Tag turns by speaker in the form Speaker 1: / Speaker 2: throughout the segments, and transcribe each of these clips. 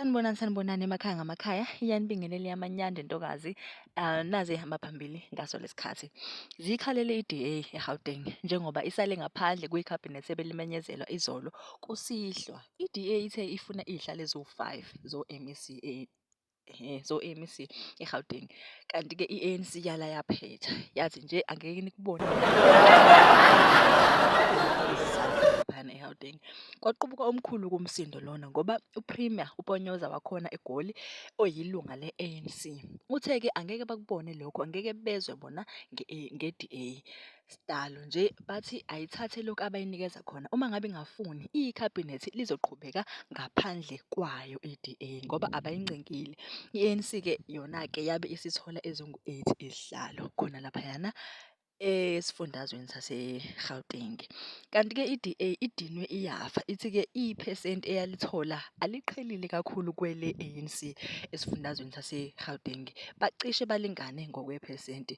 Speaker 1: Sanibonani sanibonani emakhaya ngamakhaya iyanibingelele yamanyanda intokazi uh, naze ihamba phambili ngaso lesikhathi zikhalele iDA eGauteng njengoba isale ngaphandle kwiCabinet ebelimenyezelwa izolo kusihlwa iDA ithe ifuna izihlale zo-5 zo-MEC Ehhe, so i-ANC eGauteng. Kanti-ke i-ANC yala yaphetha, yathi nje angeke nikubone laphayana eGauteng. Kwaqubuka omkhulu kumsindo lona ngoba uPremier uPonyoza wakhona eGoli oyilunga le-ANC. Uthe-ke angeke bakubone lokho, angeke bezwe bona nge-DA. Sdalo nje bathi ayithathe lokhu abayinikeza khona uma ngabe ingafuni ikhabhinethi lizoqhubeka ngaphandle kwayo iDA ngoba abayincengile. I-ANC ke yona ke yabe isithola ezingu-8 izihlalo khona laphayana esifundazweni saseGauteng. Kanti ke iDA idinwe iyafa ithi ke iphesenti eyalithola aliqhelile kakhulu kwele ANC esifundazweni saseGauteng. Bacishe balingane ngokwephesenti.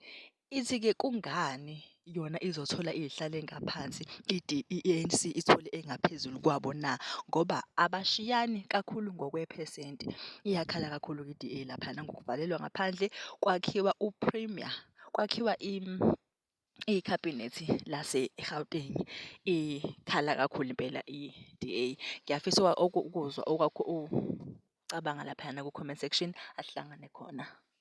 Speaker 1: Ithi-ke kungani yona izothola izihlalo engaphansi idi i-ANC ithole engaphezulu kwabo na ngoba abashiyani kakhulu ngokwephesenti. Iyakhala kakhulu i-DA laphana ngokuvalelwa ngaphandle kwakhiwa u-premier kwakhiwa ikhabhinethi lase-Gauteng ikhala kakhulu impela i-DA. Ngiyafisa ukuzwa okwakho ucabanga laphayana ku-comment section asihlangane khona.